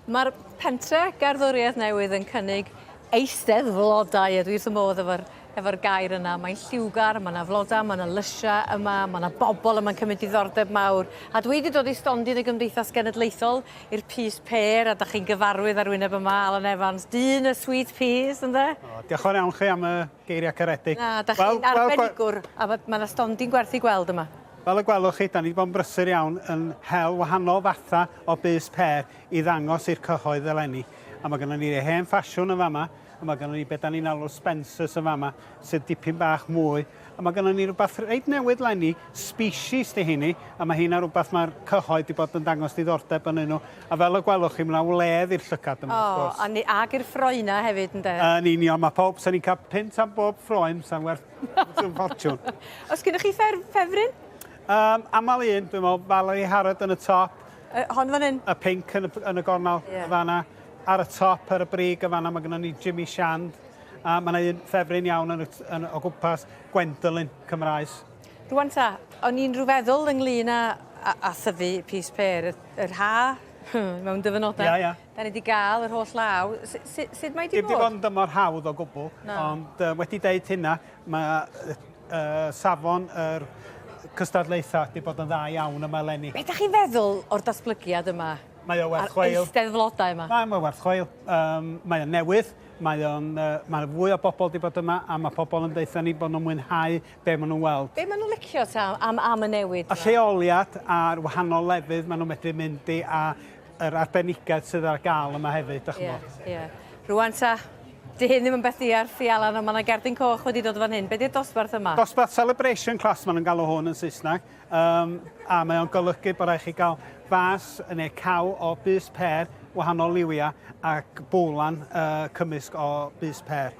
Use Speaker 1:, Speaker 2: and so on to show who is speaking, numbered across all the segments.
Speaker 1: Mae'r pentre gerddoriaeth newydd yn cynnig eistedd flodau, a dwi wrth fy modd efo'r efo gair yna. Mae'n lliwgar, mae yna flodau, mae yna lysiau yma, mae yna bobl yma'n cymryd diddordeb mawr. A dwi wedi dod i stondin y Gymdeithas Genedlaethol i'r Pys Pêr, a da chi'n gyfarwydd ar wyneb yma, Alan Evans, dyn y sweet peas, ynde? O, diolch yn iawn chi
Speaker 2: am y geiriau caredig. Na, da chi'n
Speaker 1: arbenigwr, a mae yna stondin gwerth i gweld yma. Fel y gwelwch chi, 'da
Speaker 2: ni 'di bod yn brysur iawn yn hel wahanol fatha o bys pêr i ddangos i'r cyhoedd eleni. A ma' gynnon ni hen ffasiwn yn fama, a ma' gynnon ni be' 'da ni'n alw'r Spencers yn fama, sydd dipyn bach mwy. A ma' gynnon ni rwbath reit newydd 'leni, species 'di heini, a ma' heina rwbath ma'r cyhoedd 'di bod yn dangos diddordeb ynnyn nw. A fel y gwelwch chi, ma' 'na wledd i'r llygad yma, wrth gwrs. O, a ni- ag i'r ffroena
Speaker 1: hefyd, ynde? Yn union, ma' powb,
Speaker 2: 'sa ni'n ca'l punt am bob ffroen, 'sa'n werth Ffrwm ffortiwn. Os gyda chi fer,
Speaker 1: ffefryn? Um, amal
Speaker 2: un, dwi'n meddwl, Valerie Harrod yn y top. Uh, hon fan hyn?
Speaker 1: Y pink yn y, yn y
Speaker 2: gornel, yeah. fanna. Ar y top, ar y brig, y fanna, mae gennym ni Jimmy Shand. A mae yna un ffefryn iawn yn, yn, o gwmpas, Gwendolyn, Cymraes. Rwan ta,
Speaker 1: o'n i'n rhyw feddwl ynglyn â, a, a thyfu pys per, yr ha, mewn dyfynodau. Ia, ia. Da ni wedi cael
Speaker 2: yr
Speaker 1: holl law. Sut mae wedi bod? Dim wedi bod yn dymor hawdd
Speaker 2: o gwbl, ond wedi deud hynna, mae safon yr cystadlaethau wedi bod yn dda iawn yma eleni. Be da chi'n feddwl
Speaker 1: o'r datblygiad yma? Mae o werth chweil. A'r
Speaker 2: eisteddflodau
Speaker 1: yma? Mae o werth chweil.
Speaker 2: Mae o'n newydd, mae o'n, mae fwy o bobl wedi bod yma a mae pobl yn deutha ni bod nhw'n mwynhau be maen nhw'n weld. Be maen nhw'n licio ta
Speaker 1: am y newid yma? Y lleoliad
Speaker 2: a'r wahanol lefydd maen nhw'n medru mynd i a Yr arbenigedd sydd ar gael yma hefyd, da chi'n bod. Ie, ie. Rwan ta,
Speaker 1: di hyn ddim yn beth di ar fi Alan, ond mae yna gerdyn coch wedi dod fan hyn. Be di'r dosbarth yma? Dosbarth Celebration
Speaker 2: Class, maen nhw'n galw hwn yn Saesneg. Um, a mae o'n golygu bod rhaid chi gael fas neu caw o bus per wahanol liwiau ac bowlan uh, cymysg o bus per.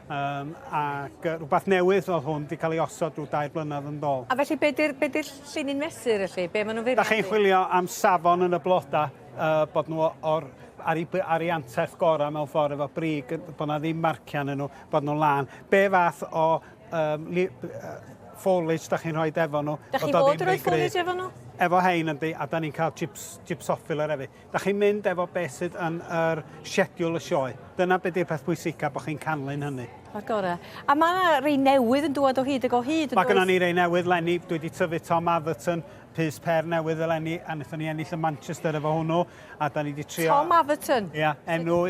Speaker 2: Um, ac rhywbeth newydd oedd hwn wedi cael ei osod rhyw dair blynedd yn dol. A felly, be di'r di
Speaker 1: llini'n mesur felly? Be maen nhw'n feirniadu? Da chi'n chwilio am
Speaker 2: safon yn y bloda, uh, bod nhw o'r ar ei, ar ei anterth gorau mewn ffordd efo brig, bod yna ddim marciau yn nhw, bod nhw'n lan. Be fath o um, li, uh, foliage da chi'n rhoi efo nhw? Da chi'n bod yn rhoi foliage
Speaker 1: efo nhw? Efo hein yndi, a
Speaker 2: da ni'n cael chips, chips offiler hefyd. Dach chi'n mynd efo beth sydd yn yr siediwl y sioe. Dyna be di'r peth pwysica, bod chi'n canlyn hynny. O'r gore. A
Speaker 1: mae yna rei newydd yn dŵad o hyd ag o hyd yn Mae gynnon ni rei newydd
Speaker 2: lenni, dwi wedi tyfu Tom Atherton, pys per newydd eleni, a wnaethon ni ennill y Manchester efo hwnnw, a da ni wedi trio... Tom Atherton? Ia, yeah,
Speaker 1: enw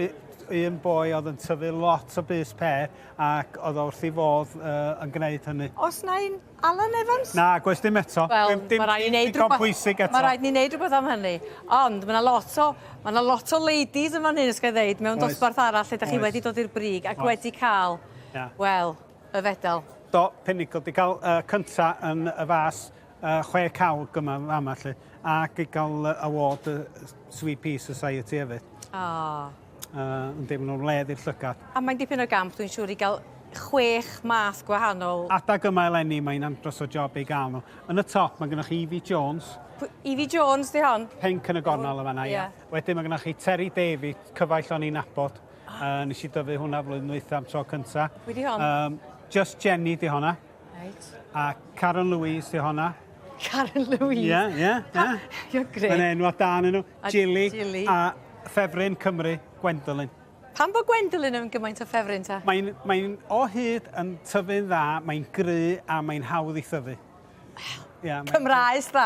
Speaker 2: un boi oedd yn tyfu lot o bys per ac oedd o wrth ei fodd uh, yn gwneud hynny. Os na un
Speaker 1: Alan Evans? Nag oes dim eto.
Speaker 2: Wel, mae rhaid ni wneud
Speaker 1: rhywbeth. pwysig eto. Mae rhaid ni wneud rhywbeth am hynny. Ond mae yna lot o, mae yna lot o ladies yn fan hyn, ysgau ddeud, mewn dosbarth arall lle da chi wedi dod i'r brig ac wedi cael, wel, y fedal. Do, Pinnacle, di
Speaker 2: cael uh, cynta yn y fas uh, chwe cawg yma fama lle, ac i gael uh, award uh, Sweet Pea Society hefyd. Ah. Uh, yn deimlo nhw'n led i'r llygad. A mae'n dipyn o gamp, dwi'n siŵr,
Speaker 1: i gael chwech math gwahanol. Adag yma eleni,
Speaker 2: mae'n andros o job ei gael nhw. Yn y top, mae gennych chi Evie Jones. P Evie Jones,
Speaker 1: di hon? Pink yn y gornel yma,
Speaker 2: na, ia. Yeah. Wedyn mae gennych chi Terry David, cyfaill o'n i'n nabod. Uh, nes i dyfu hwnna flwyddyn dwytha am tro cynta. Wedi hon? Um,
Speaker 1: Just Jenny di
Speaker 2: honna. Reit. A
Speaker 1: Caron
Speaker 2: Louise sy honna. Caron Louise?
Speaker 1: Ie, ie,
Speaker 2: ie. You're great.
Speaker 1: Mae'n enw a dan enw.
Speaker 2: Jilly. Jilly. A ffefryn Cymru, Gwendolyn. Pam bod
Speaker 1: Gwendolyn yn gymaint o ffefryn ta? Mae'n mae o
Speaker 2: hyd yn tyfu'n dda, mae'n gry a mae'n hawdd i thyfu. Wel, yeah,
Speaker 1: Cymraes dda.